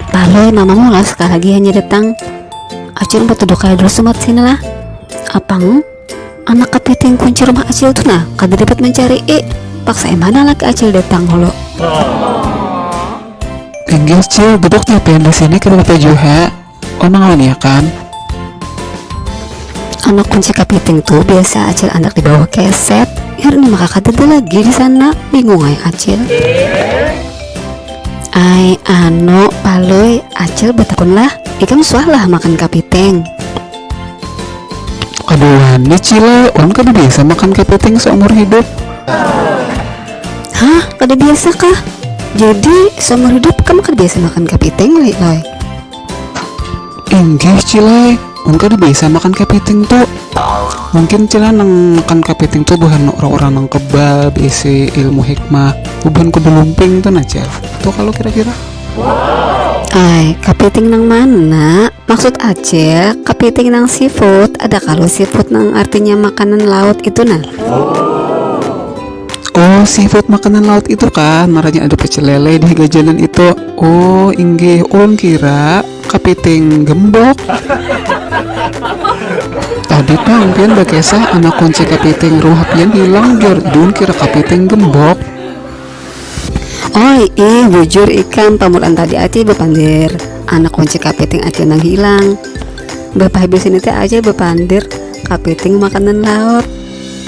Baloi mamamu lah sekali lagi hanya datang Acil mau tuduh kaya dulu sumat sini lah Apang anak kepiting kunci rumah Acil tuh nah kada dapat mencari eh paksa emana lagi Acil datang holo Inggih Cil duduk di sini kada apa juga Onang wan ya kan? Anak kunci kapiting tuh biasa acil andak di bawah keset. Herni maka kadada lagi di sana. Bingung ai acil. Ai anu palui acil batakun lah. Ikam suah lah makan kapiting? Kada wani cile, wan kada biasa makan kapiting seumur hidup. Hah kada biasa kah? Jadi seumur hidup kam kada biasa makan kapiting loi loi? Inggih Cilai, mun kada biasa makan kapiting tu. Mungkin Cilai nang makan kapiting tu buhan urang-urang nang kebal, beisi ilmu hikmah, bubuhan kuda lumping tu nah Cil. Tu kalu kira-kira. Ai, kapiting nang mana? Maksud Acil, kapiting nang seafood, ada kalu seafood nang artinya makanan laut itu nah. Oh, seafood makanan laut itu kan, marahnya ada pecel lele di gajanan itu. Oh, inggih, ulun kira kapiting gembok. Tadi pang pian bakesah anak kunci kapiting ruha pian hilang jur, dun kira kapiting gembok. Oi, ih bujur ikam pamulaan tadi aja bapandir. Anak kunci kapiting aja nang hilang. Bapahabis ini teh aja bapandir kapiting makanan laut.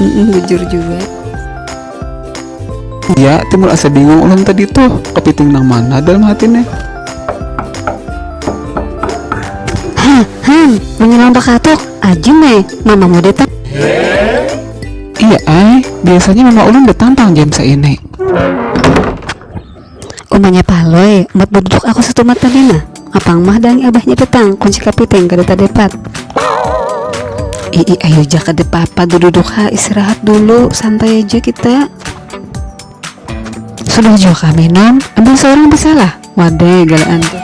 Mm-mm, bujur juga. Iya, timbul asa bingung ulun tadi tuh kepiting nang mana dalam hatinya. Hah, han, menyelam bakatuk. Ajum eh, mama mau datang. Iya, ai, biasanya mama ulun datang tang jam seini. Umanya Palui, umpat baduduk aku satumat bagana. Apang mah daangi abahnya petang, kunci kapiting kada tadepat. Iih ayu ja kada papa dududuk ha, istirahat dulu, santai aja kita. Sudah jua kah minum? Ambil seorang bisalah. Wadai galaan tuh.